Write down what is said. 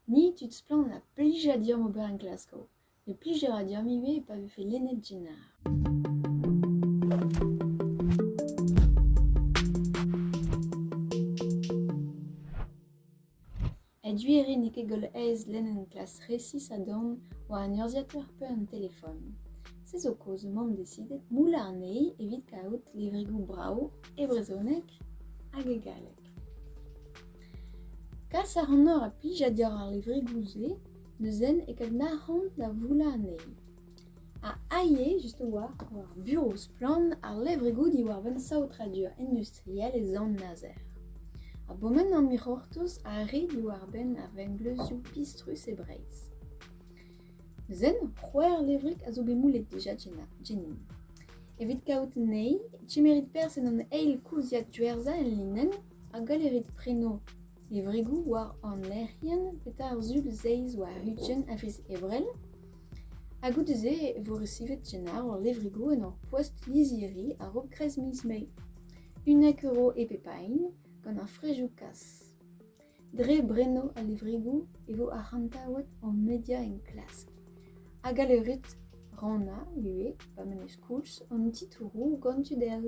Ni tud splann a plija deomp ober en Glasgow, ne plije a ra deomp ivez pa vefe lennet Jenner. A-du e rin n'eo ket goll aes lenn un klas resis a-dorn war un urzhiateur pe un telefon. Se zo kaoz m'omp decidet moullañ anezhi evit kaout levrigoù brav e brezhoneg hag e galleg. Kas a ranoc'h a plijad war ar levregoù-se neuze e kadnac'han da voulañ anezhi. Ha aes just a-walc'h war ar burev splann ar levregoù diwar-benn saotradur industriel e Sant-Nazer. A-boment an dic'hortoz a rit diwar-benn ar vengleuzioù pistrus e Breizh. Zen c'hwec'h levrig a zo bet moulet dija Jenin. Evit kaout anezhi, kemerit perzh en hon eil kouziad diwezhañ en linenn hag gallerit prenañ levrigoù war an lec'hienn petra ar zul zeiz war ugent a viz Ebrel. Ha goude-se e vo resivet Jenar hor levrigoù en hor poest lizhiri a-raok kreiz miz Mae. 1 euro e pep a hini gant ar frejoù kas. Dre bremañ al levregoù e vo arc'hantaouet hon media enklask ha galeurut rannañ ivez pa 'm eus koulz an titouroù gant tud all.